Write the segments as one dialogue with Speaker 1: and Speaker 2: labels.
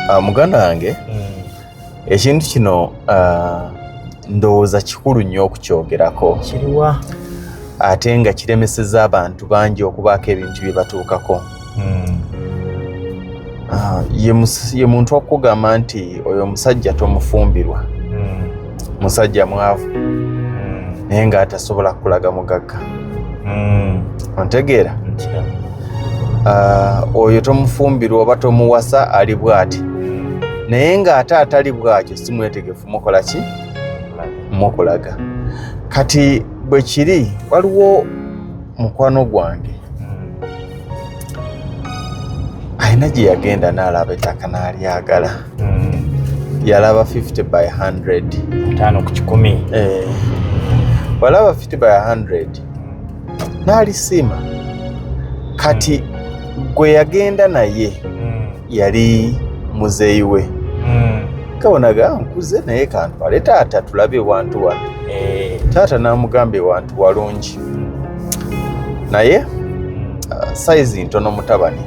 Speaker 1: Ah, muganda wange hmm. ekintu kino ah, ndowooza kikulu nnyo okukyogerako kiriwa
Speaker 2: ate
Speaker 1: nga kiremeseza abantu bangi okubaako ebintu bye batuukako hmm. ah, ye muntu okugamba nti oyo omusajja tomufumbirwa musajja mwavu hmm. naye nga atasobola kulaga mugagga hmm. ontegeera ah, oyo tomufumbirwa oba tomuwasa ali bwati hmm. naye nga ate atali bwakyo si mwetegefu mukola ki mukulaga kati bwe kiri waliwo mukwano gwange alina gye yagenda n'alaba ettaka n'alyagala mm. yalaba 50 by 100 tano ku kikumi
Speaker 2: eh.
Speaker 1: walaba 50 by 100 n'alisiima kati mm. gwe yagenda naye mm. yali muzeeyi we mm. kabonaga nkuze naye kantwale taata tulabe ewantu wano eh. taata n'amugamba ewantu walungi naye uh, sayizi ntono mutabani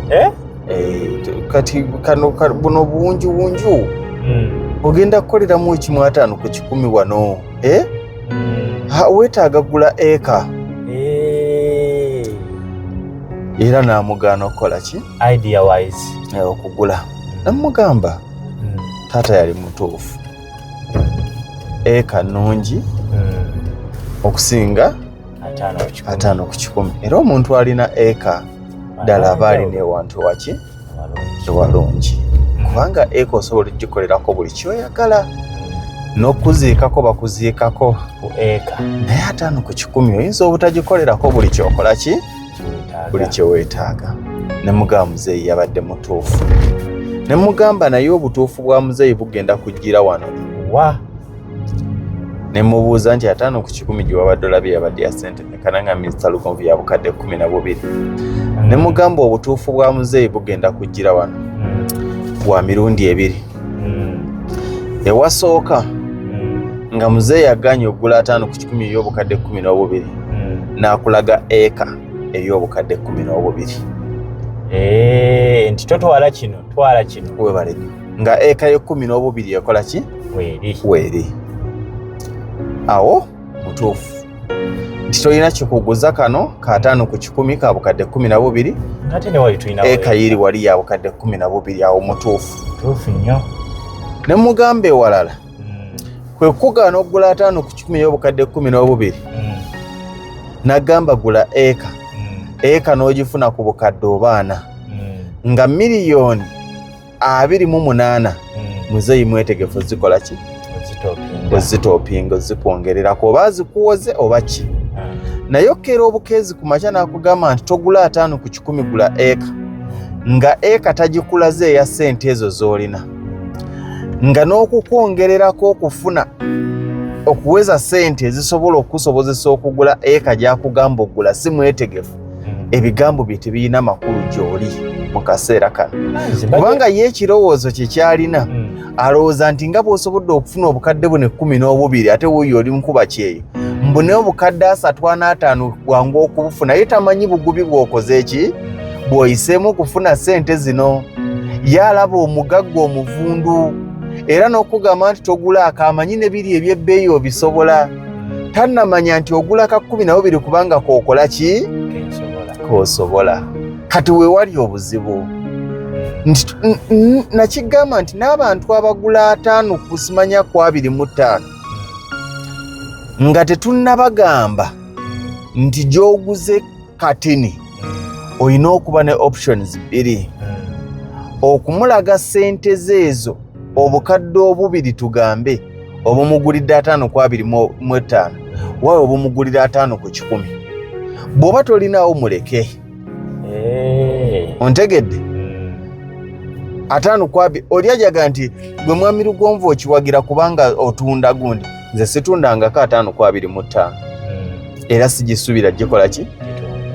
Speaker 1: eh? Eh, kati kano buno bungi bunju hmm. ogenda kukoleramu ekimu ataano ku kikumi wano eh? hmm. wetaaga gula eka eh. era namugaana okukola ki
Speaker 2: okugula
Speaker 1: namugamba hmm. taata yali mutuufu eka nungi okusinga ataano ku kikumi era omuntu alina eka ddala aba alina ewantu waki ewalungi kubanga eka osobola okugikolerako buli kyoyagala n'okuziikako bakuziikako ku eka
Speaker 2: naye ataano ku
Speaker 1: kikumi oyinza obutagikolerako buli kyokola ki buli kyeweetaaga ne mugamba muzeeyi yabadde mutuufu ne mugamba naye obutuufu bwa muzeeyi bugenda kujjira wano wa ne mubuuza nti ataano ku kikumi gye wabadde olabye yabadde ya ssente mekana nga minisita lugonvu ya bukadde kkumi na bubiri ne mugamba obutuufu bwa muzeeyi bugenda kujjira wano bwa mirundi ebiri ewasooka nga muzeeyi aganye okugula ataano ku kikumi ey'obukadde kkumi n'obubiri n'akulaga eka ey'obukadde kkumi n'obubiri eh, nti totwala kino
Speaker 2: twala kino webale nga
Speaker 1: eka yekumi n'obubiri ekola ki weeri awo mutuufu nti tolina kikuguza kano kataano ku kikumi ka bukadde kumi na bubiri
Speaker 2: eka yiri wali ya bukadde
Speaker 1: kumi na bubiri awo mutuufu
Speaker 2: ne
Speaker 1: mugamba ewalala hmm. kwe kugaana okugula ataano ku kikumi ey'obukadde kumi n'obubiri hmm. nagamba gula eka hmm. eka n'ogifuna ku bukadde obaana nga miliyoni abiri mu munaana hmm. muzeeyi mwetegefu zikola ki ozitopinga ozikwongererako oba azikuwoze oba ki hmm. naye okkeera obukeezi ku makya n'akugamba nti togula ataano ku kikumi gula eka hmm. nga eka tagikulaze eya ssente ezo z'olina nga n'okukwongererako okufuna okuweza ssente ezisobola okukusobozesa okugula eka gyakugamba okugula si mwetegefu hmm. ebigambo bye tebirina makulu gy'oli mu kaseera kano kubanga ye ekirowoozo kye kyalina hmm. alowooza nti nga bw'osobodde okufuna obukadde bune kkumi n'obubiri ate wuuyo oli mukuba kyeyo mbu naye obukadde asatu anaataano bwangu okubufuna ye tamanyi bugubi bw'okoze ki bw'oyiseemu okufuna ssente zino ye alaba omugagga omuvundu era n'okugamba nti togula akamanyi ne biri eby'ebbeeyi obisobola tannamanya nti ogula ka kkumi nabo biri kubanga kookola ki koosobola kati weewali obuzibu nakigamba nti n'abantu abagula ataano kusimanya ku abiri mu ttaano nga tetunnabagamba nti gy'oguze katini olina okuba ne options bbiri okumulaga sente ze ezo obukadde obubiri tugambe obumugulidde ataano ku abiri mu etaano wawe obumugulira ataano ku kikumi bw'oba tolinaawo muleke eh. ontegedde hmm. ataano ku abiri oli ajaga nti gwe mwami lugonvu okiwagira kubanga otunda gundi nze situndangako ataano ku abiri mu ttaano hmm. era sigisubira gikola ki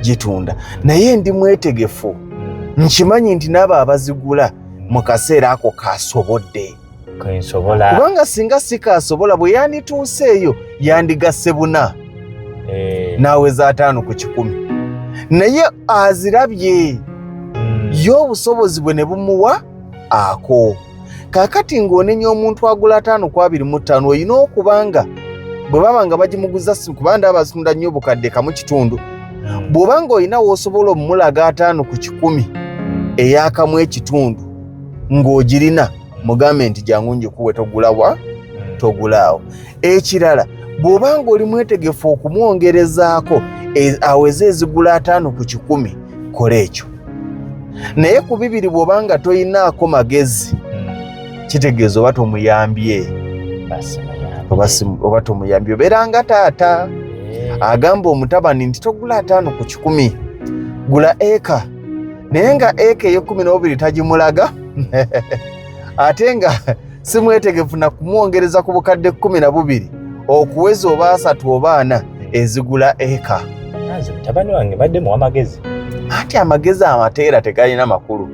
Speaker 1: gitunda naye ndi mwetegefu hmm. nkimanyi nti naabo abazigula mu kaseera ako kasobodde kubanga singa sikaasobola bwe yandituuseeyo yandigasse buna eh. naaweza ataano ku kikumi naye azirabye hmm. ye obusobozi bwe ne bumuwa ako kaakati ng'onenya omuntu agula ataano ku abiri mu ttaano olina okuba nga bwe baba nga bagimuguza si kuba nda abazitunda nnyo obukadde kamu kitundu hmm. bw'oba ng'olina w'osobola omulaga ataano ku kikumi eyakamu ekitundu ng'ogirina mugambe nti jangu njikuwe togulawa hmm. togulaawo ekirala bw'oba ng'oli mwetegefu okumwongerezaako e, aweze ezigula ataano ku kikumi kola ekyo naye ku bibiri bw'oba nga toyinaako magezi hmm. kitegeeza oba tomuyambye oba tomuyambye obeera nga taata eh. agamba omutabani nti togula ataano ku kikumi gula eka naye nga eka ey'ekkumi n'obubiri tagimulaga ate nga si mwetegefu na kumwongereza ku bukadde kkumi na bubiri okuweza oba asatu oba ana ezigula eka nze mutabani
Speaker 2: wange badde muwa magezi anti amagezi
Speaker 1: amateera tegalina makulu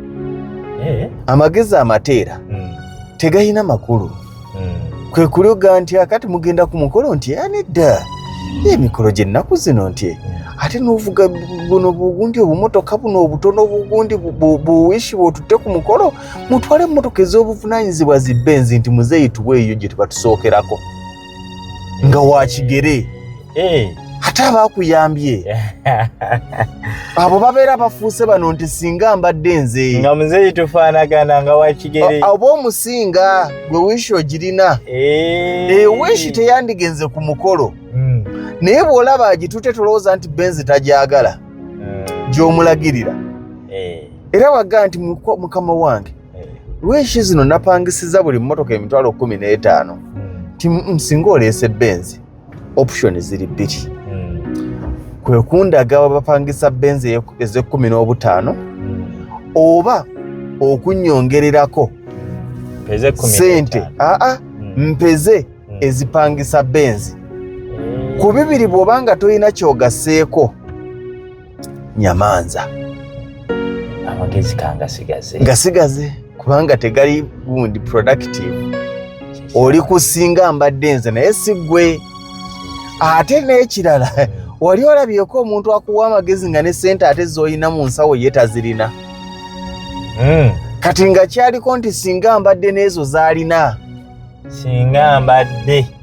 Speaker 1: eh? amagezi amateera hmm. tegalina makulu hmm. kwe kuloga nti akati mugenda ku mukolo nti anedda emikolo gyennaku zino nti hmm. ate novuga buno bugundi obumotoka buno obutono bugundi buwishi bwotutte ku mukolo mutwale emmotoka ez'obuvunaanyizibwa zi benzi nti muzeeyi tuwe eyo gye tebatusookerako nga wakigere eh. ate abaakuyambye abo babeera bafuuse bano nti singa mbadde nze nga muzeeyi tufaanagana
Speaker 2: nga wakigere oba omusinga
Speaker 1: gwe wishi ogirina ewishi eh. eh, teyandigenze ku mukolo hmm. naye bw'olaba agitute tolowooza nti benzi tagyagala hmm. gy'omulagirira era waga nti mukama wange eh. wishi zino napangisiza buli mmotoka emitwalo kumi n'etaano hmm. ti mm, singa oleese benzi option ziri bbiri hmm. kwe kundaga wabapangisa benzi ez'ekkumi n'obutaano hmm. oba okunyongererako sente aa mpeze ezipangisa benzi ku bibiri bw'oba nga tolina kyogaseeko nyamanza
Speaker 2: amagezi kangasigaze
Speaker 1: gasigaze kubanga tegali gundi productive oli kusinga mbadde nze naye sigwe ate n'ekirala wali olabyeko omuntu akuwa amagezi nga ne sente ate zolina mu nsawo ye tazirina hmm. kati nga kyaliko nti singa mbadde n'ezo zalina singa mbadde